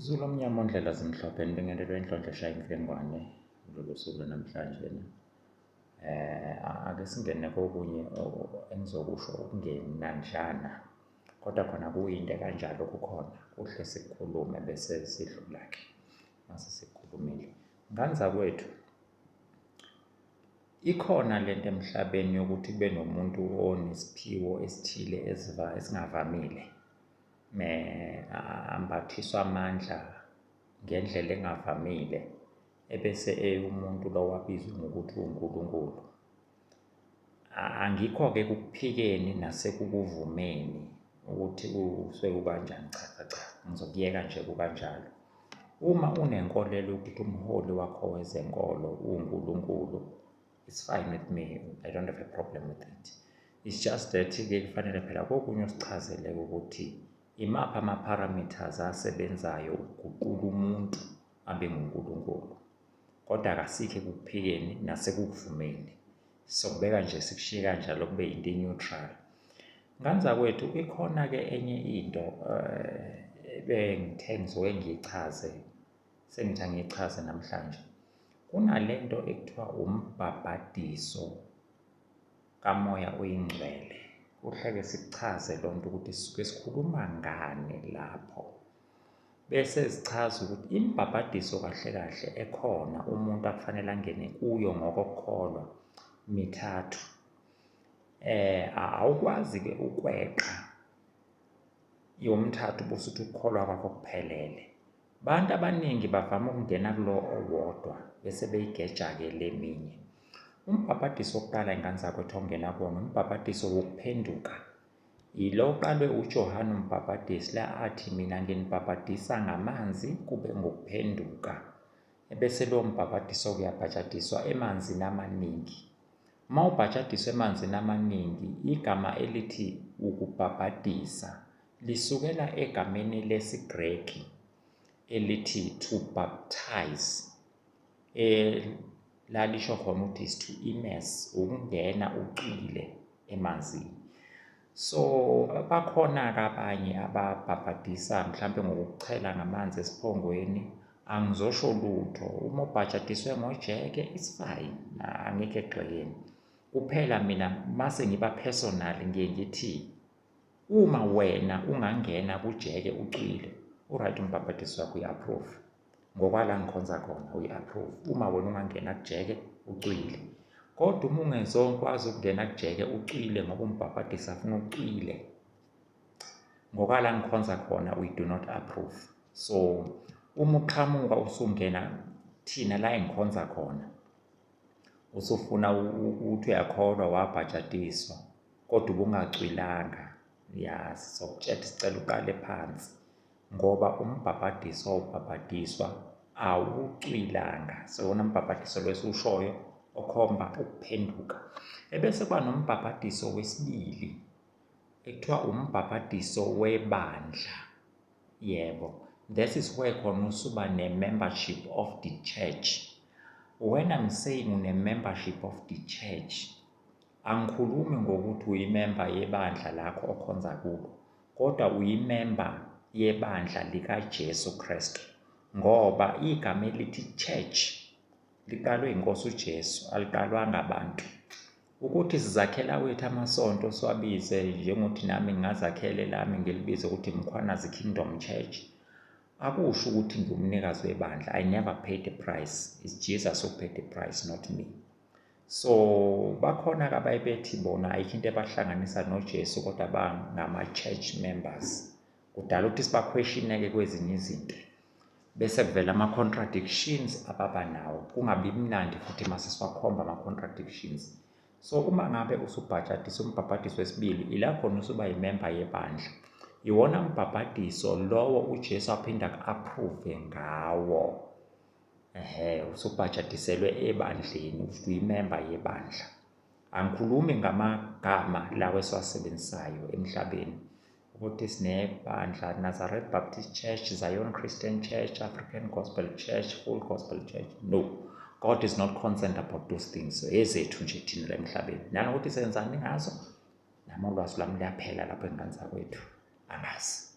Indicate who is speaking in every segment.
Speaker 1: Zulu omnyama ondlela zimhlophe nibingelelwe inhlonhlo eshaya imfengwane kulolu suku lwanamhlanje um eh, ake singene kokunye engizokusho okungenanjana kodwa khona kuyinto ekanjalo kukhona kuhle sikhulume bese sidlula-ke mase sikhulumile nganza kwethu ikhona le nto emhlabeni yokuthi kube nomuntu onesiphiwo esithile esingavamile ambathiswa amandla ngendlela engavamile ebese eyumuntu lowo abizwe ngokuthi uNkulunkulu angikho-ke kukuphikeni nasekukuvumeni ukuthi usuke kukanjani cha cha cha ngizokuyeka nje kukanjalo uma unenkolelo yokuthi umholi wakho wezenkolo uNkulunkulu it's fine with me i don't have a problem with it it's just that ke kufanele phela kokunye usichazele ukuthi imaphi ama-parameters asebenzayo ukuguqula umuntu abe ngunkulunkulu kodwa kasikhe kuphikeni nasekuvumeni sokubeka nje sikushiye kanjalo kube into e-neutral nganza kwethu ikhona-ke enye into um eh, bengithe ngizoke ngiyichaze sengithi angichaze namhlanje kunalento ekuthiwa umbhabhadiso kamoya oyingcwele kuhleke sikuchaze loo nto ukuthi sisuke sikhuluma ngani lapho bese zichaza ukuthi imbhabhadiso kahle kahle ekhona umuntu akufanele angene kuyo ngokokholwa mithathu eh awukwazi ke ukweqa yomthathu busuthi ukukholwa kwakho kuphelele Abantu abaningi bavama ukungena kulo owodwa bese beyigeja-ke le minye. Umbhabhadiso wokuqala ingane zakwethu ongena kuwona umbhabhadiso wokuphenduka. Yilo uqalwe uJohane umbhabhadisi la athi mina nginibhabhadisa ngamanzi kube ngokuphenduka. Ebese lowo mbhabhadiso uyabhajadiswa emanzini amaningi. Uma ubhajadiswa emanzini amaningi igama elithi ukubhabhadisa lisukela egameni lesiGreki elithi to baptize elalisho khona ukuthi is to immerse ukungena ucwile emanzini so bakhona-ke abanye ababhabhadisa mhlawumbe ngokuchela ngamanzi esiphongweni angizosho lutho uma ubhajadiswe ngojeke it's fine angikho egxekeni kuphela mina mase ngiba personal ngiye ngithi Uma wena ungangena kujeke ucwile uright umbhabhadisi wakho uyi-approve ngokwala ngikhonza khona uyi-approve uma wena ungangena kujeke ucwile kodwa uma ungezokwazi ukungena kujeke ucwile ngoba umbhabhadisi afuna ucwile ngokwala ngikhonza khona uyi-do not approve so uma uqhamuka usungena thina la engikhonza khona usufuna ukuthi uyakholwa wabhajatiswa kodwa ubungacwilanga ya sizokutshela sicela uqale phansi ngoba umbhabhadiso wawubhabhadiswa awucwilanga sewona mbhabhadiso lwesiwushoyo okhomba ukuphenduka ebese kuba nombhabhadiso wesibili ekuthiwa umbhabhadiso webandla Yebo. That is where khona usuba ne-membership of the church. When I'm saying une-membership of the church, angikhulumi ngokuthi uyimemba yebandla lakho okhonza kubo, kodwa uyimemba yebandla likaJesu Kristu. Ngoba igama elithi church liqalwe inkosi uJesu, aliqalwanga abantu. Ukuthi sizakhela wethu amasonto siwabize njengokuthi nami ngingazakhele lami ngilibize ukuthi Mkhwanazi Kingdom Church akusho ukuthi ngumnikazi webandla I never paid the price it's Jesus who paid the price not me so bakhona ke abayebethi bona ayikho into ebahlanganisa noJesu kodwa bangama church members kudala ukuthi sibakhweshineke kwezinye izinto bese kuvela ama-contradictions ababa nawo kungabi mnandi futhi uma sesiwakhomba ama-contradictions so uma ngabe usubhajadisa umbhabhadiso wesibili ila khona usuba yimemba yebandla iwona mbhabhadiso lowo ujesu aphinde aku-approve ngawo ehe usubhajadiselwe ebandleni usuthi uyimemba yebandla angikhulumi ngamagama lawo esiwasebenzisayo emhlabeni ukuthi sinebandla Nazareth Baptist Church, Zion Christian Church, African Gospel Church, Full Gospel Church. No. God is not concerned about those things. So ezethu nje thina la emhlabeni. Nanokuthi senzani ngazo? Nami ulwazi lwami liyaphela lapho engane zakwethu. Angazi.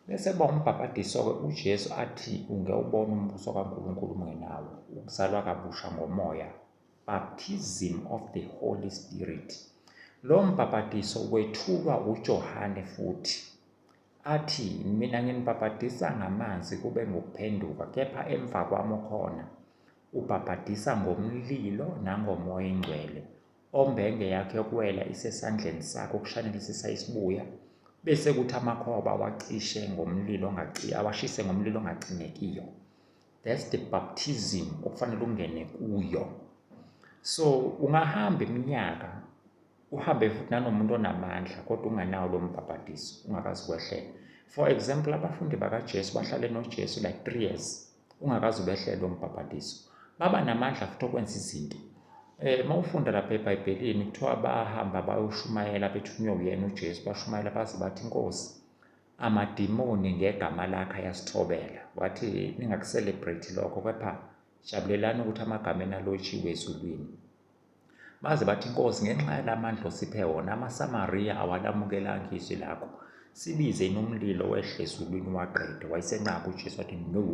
Speaker 1: Bese ba umbhabhadiso-ke uJesu athi ungewubona umbuso kaNkulunkulu ungenawo, ukuzalwa kabusha ngomoya Baptism of the Holy Spirit. Lo mbhapatiso wethulwa uJohane futhi athi, Mina nginibhapatisa ngamanzi kube ngokuphenduka, kepha emva kwami okhona ubhapatisa ngomlilo nangomoya ingcwele, ombenge yakhe yokuwela isesandleni sakhe ukushanelisisa isibuya, bese kuthi amakhoba awacishe ngomlilo awashise ngomlilo ongacingekiyo. that's the baptism okufanele ungene kuyo so ungahamba iminyaka uhambe futhi nanomuntu onamandla kodwa unganawo lo mbhabhadiso ungakazi kwehlela for example abafundi bakajesu bahlale nojesu like three years ungakazi ubehlele lo mbhabhadiso baba namandla futhi okwenza izinto Eh uma ufunda lapha eBhayibhelini kuthiwa bahamba bayoshumayela bethunywe uyena uJesu, bashumayela baze bathi iNkosi Amadimoni ngegama lakhe ayasithobela. Wathi ningakuselebrate lokho kepha jabulelani ukuthi amagama enalotshiwe ezulwini. Baze bathi inkosi ngenxa yalamandla osiphe wona amaSamariya awalamukelanga izwi lakho. Sibize inomlilo wehle ezulwini waqede wayesenqaba uJesu wathi no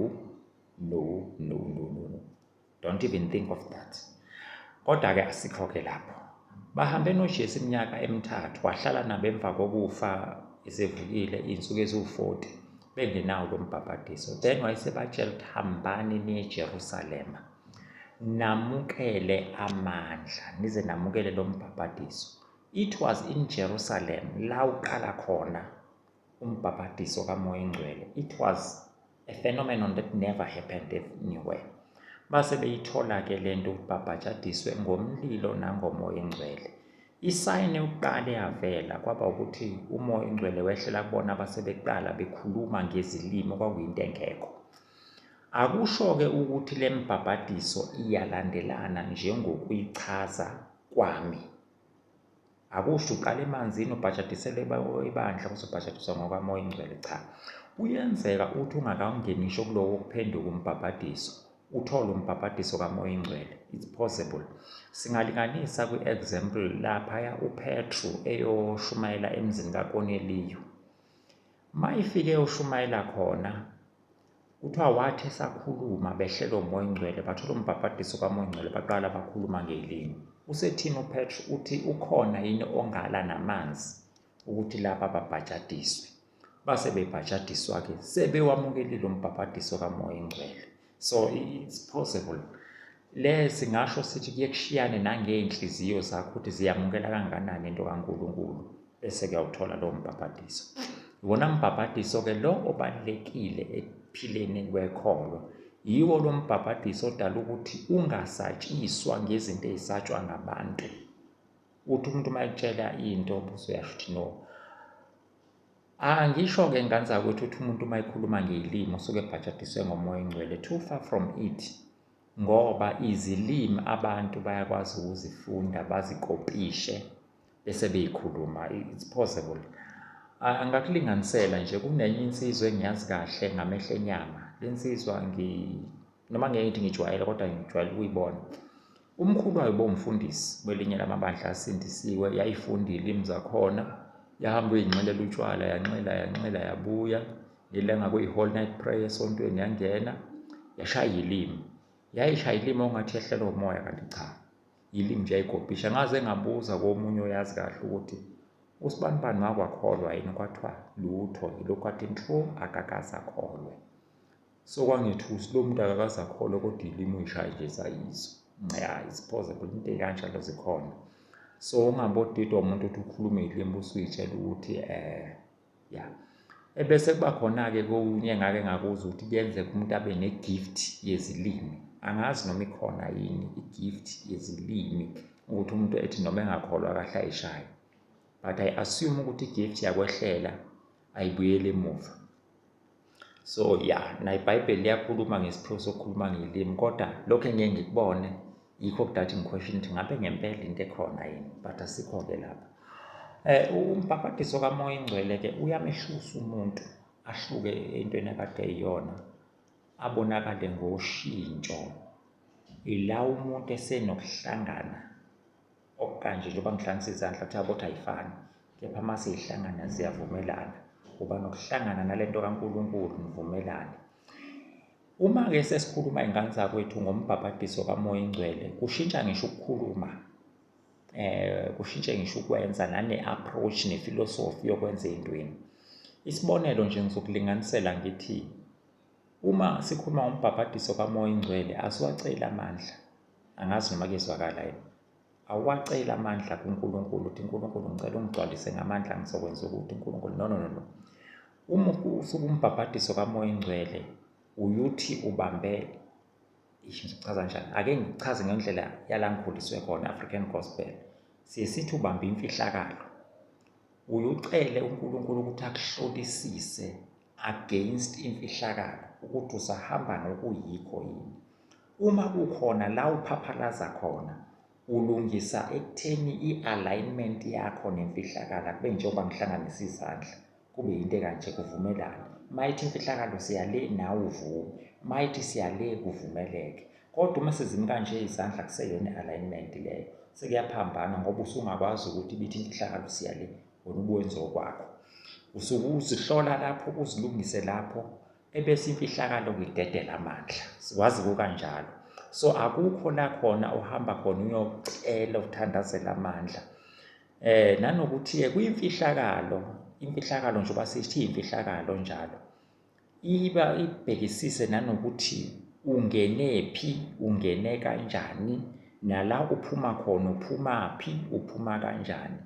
Speaker 1: no no no no. don't even think of that kodwa-ke asikho-ke lapho bahambe nojesu iminyaka emithathu wahlala nabo emva kokufa esevukile iy'nsuku eziwu-40 bengenawo lo mbhabhadiso then wayesebatshela ukuthi hambani niye ejerusalema namukele amandla nize namukele lo mbhabhadiso it was in jerusalem la uqala khona umbhabhadiso kamoya engcwele it was a phenomenon that never happened anywhere base beyithola-ke le nto ukubhabhajadiswe ngomlilo nangomoya engcwele isayini yokuqala eyavela kwaba ukuthi umoya engcwele wehlela kubona base beqala bekhuluma ngezilimi okwakuyinto engekho akusho-ke ukuthi le mbhabhadiso iyalandelana njengokuyichaza kwami Akusho uqala emanzini ubhajadiselwe ibandla kuzobhajadiswa ngokwamoya ingcwele cha. Kuyenzeka ukuthi ungakawungeni ngisho kulowo kuphenduka umbhabhadiso uthole umbhabhadiso kamoya ingcwele it's possible singalinganisa kwi-example laphaya upetru eyoshumayela emzini kakoneliyo uma ifike ushumayela khona Kuthiwa wathi esakhuluma behlelwa umoya ongcwele bathola umbhabhadiso kamoya ongcwele baqala bakhuluma ngelimi. Usethini uPetru uthi ukhona yini ongala namanzi ukuthi laba babhajadiswe. Base bebhajadiswa-ke sebewamukelile umbhabhadiso kamoya ingcwele. So it's possible. Le singasho sithi kuye kushiyane nangey'nhliziyo zakho ukuthi ziyamukela kangakanani into kaNkulunkulu. bese kuyawuthola lowo mbhabhadiso iwona mbhabhadiso ke lo obalulekile ekuphileni kwekholwa yiwo lo mbhabhadiso odala ukuthi ungasatshiswa ngezinto ezisatshwa ngabantu uthi umuntu uma ekutshela into usuyasho ukuthi no angisho-ke ngane zakwethu ukuthi umuntu uma ekhuluma ngeyilimi usuke ebhajadiswe ngomoya engcwele too far from it ngoba izilimi abantu bayakwazi ukuzifunda bazikopishe bese beyikhuluma it's possible angakulinganisela nje kunenye insizwa engiyazi kahle ngamehlo enyama le nsizwa ngi noma ngeke ngithi ngijwayele kodwa ngijwayele ukuyibona umkhulu wayo bomfundisi kwelinye lamabandla asindisiwe yayifunda ilimi zakhona yahamba uyinxelela utshwala yanxela yanxela yabuya ngelanga kuyi-whole night prayer esontweni yangena yashaya ilimi yayishaya ilimi ongathi yehlelwa umoya kanti cha yilimi nje ayigobhisha ngaze ngabuza komunye oyazi kahle ukuthi usibanibani makwakholwa yini kwathiwa lutho yilokhu athi nto akakaze akholwe so kwangethusi lo muntu akakaze akholwe kodwa yilimi uyishaye nje sayizo ya isiphoze into ekanjalo zikhona so ungabodidwa umuntu othi ukhulume ilimi usuyitshela ukuthi um ya ebese kuba khona-ke kokunye engake ngakuza ukuthi kuyenzeka umuntu abe ne-gift yezilimi angazi noma ikhona yini i-gift yezilimi ukuthi umuntu ethi noma engakholwa kahle ayishaye but i assume ukuthi i-gift yakwehlela ayibuyele emuva so ya yeah, naye ibhayibheli liyakhuluma ngesiphiwo sokukhuluma ngelimi kodwa lokhu engeke ngikubone yikho kudathi ngiquestion ukuthi ngabe ngempela into ekhona yini but asikho-ke lapha um umbhabhadiso kamoya ingcwele-ke uyamehlusa umuntu ahluke entweni akade eyiyona abonakale ngoshintsho ila umuntu esenokuhlangana okukanje njengoba ngihlanganisa izandla kuthiwa ukuthi ayifani kepha uma siyihlangana ziyavumelana uba nokuhlangana nale nto kankulunkulu nivumelane uma-ke sesikhuluma iy'ngane zakwethu ngombhabhadiso kamoya ingcwele kushintsha ngisho ukukhuluma eh kushintshe ngisho ukwenza nane-approach nefilosofi yokwenza ey'ntweni isibonelo nje ngizokulinganisela ngithi uma sikhuluma ngombhabhadiso kamoya ingcwele asiwaceli amandla angazi noma kuyezwakala yini awuwaceli amandla kuNkulunkulu uthi uNkulunkulu ngicela ungigcwalise ngamandla ngizokwenza ukuthi uNkulunkulu no no no no uma usuke umbhabhadiso kamoya ingcwele uyuthi ubambe ngichaza njani ake ngichaze ngendlela yala ngikhuliswe khona African gospel siye sithi ubambe imfihlakalo uyucele uNkulunkulu ukuthi akuhlolisise against imfihlakalo ukuthi usahamba nokuyikho yini Uma kukhona la uphaphalaza khona, ulungisa ekutheni i-alignment yakho nemfihlakalo akube njengoba ngihlanganisa izandla kube yinto ekanje kuvumelane uma ithi imfihlakalo siya le nawe uvume uma ithi siya le kuvumeleke kodwa uma sezimi kanje izandla kuseyona i-alignment leyo sekuyaphambana ngoba usungakwazi ukuthi ibithi imfihlakalo siya le wena ubuwenze okwakho usuke uzihlola lapho uzilungise lapho ebese imfihlakalo kuyidedela amandla sikwazi kukanjalo so akukho la khona uhamba khona uyocela uthandazela amandla eh nanokuthi ke kuyimfihlakalo imfihlakalo nje basithi imfihlakalo njalo iba ibhekisise nanokuthi ungene phi ungene kanjani nala uphuma khona uphuma phi uphuma kanjani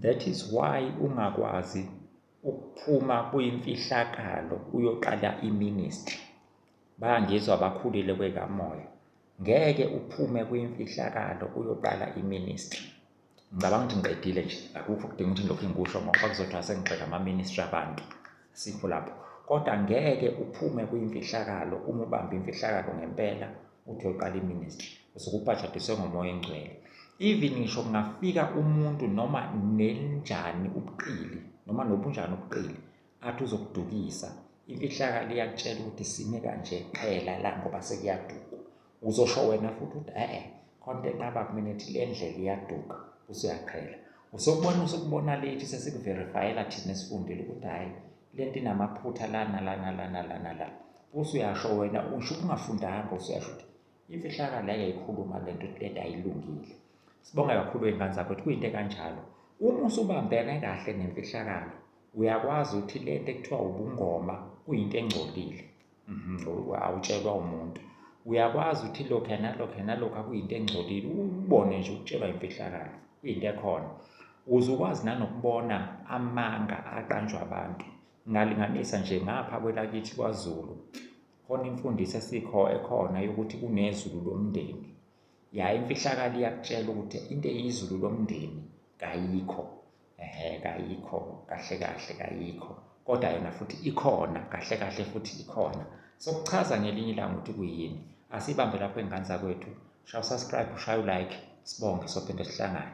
Speaker 1: that is why ungakwazi ukuphuma kuyimfihlakalo uyoqala iministry bangizwa bakhulile kwekamoya ngeke uphume kuyimfihlakalo uyoqala iministry ngicabanga ukuthi ngiqedile nje akukho kudinga ukuthi ngilokhu ngikusho ngoba kuzothiwa sengigxeka ama-ministry abantu sikho lapho kodwa ngeke uphume kuyimfihlakalo uma ubamba imfihlakalo ngempela uthe uqala iministry usukubhajadiswe ngomoya engcwele even ngisho kungafika umuntu noma nenjani ubuqili noma nobunjani ubuqili athi uzokudukisa imfihlakalo iyakutshela ukuthi sime kanje qhela la ngoba sekuyaduka uzosho wena futhi ukuthi e-e khonto enqaba kumina ethi le ndlela iyaduka usuyaqhela usokubona usukubona lethi sesikuverifayela thina esifundile ukuthi hhayi lento inamaphutha lana lana lana lana la usuyasho wena usho ukungafundanga usuyasho ukuthi imfihlakalo yayikhuluma lento lento ayilungile sibonga kakhulu ingane zakho ukuthi kuyinto kanjalo uma usubambene kahle nemfihlakalo uyakwazi ukuthi lento ekuthiwa ubungoma kuyinto engcolile Mhm, awutshelwa umuntu uyakwazi ukuthi lokhu nalokhu nalokhu akuyinto engcolile ubone nje ukutshelwa imfihlakalo kuyinto ekhona uze ukwazi nanokubona amanga aqanjwa abantu ngalinganisa nje ngapha kwelakithi kwazulu khona imfundiso esikho ekhona yokuthi kunezulu lomndeni ya imfihlakalo iyakutshela ukuthi into eyizulu lomndeni kayikho ehe kayikho kahle kahle kayikho kodwa yona futhi ikhona kahle kahle futhi ikhona sokuchaza ngelinye ilanga ukuthi kuyini asibambe lapho engane zakwethu shaya usubscribe ushaya ulike sibonge sophinde sihlangane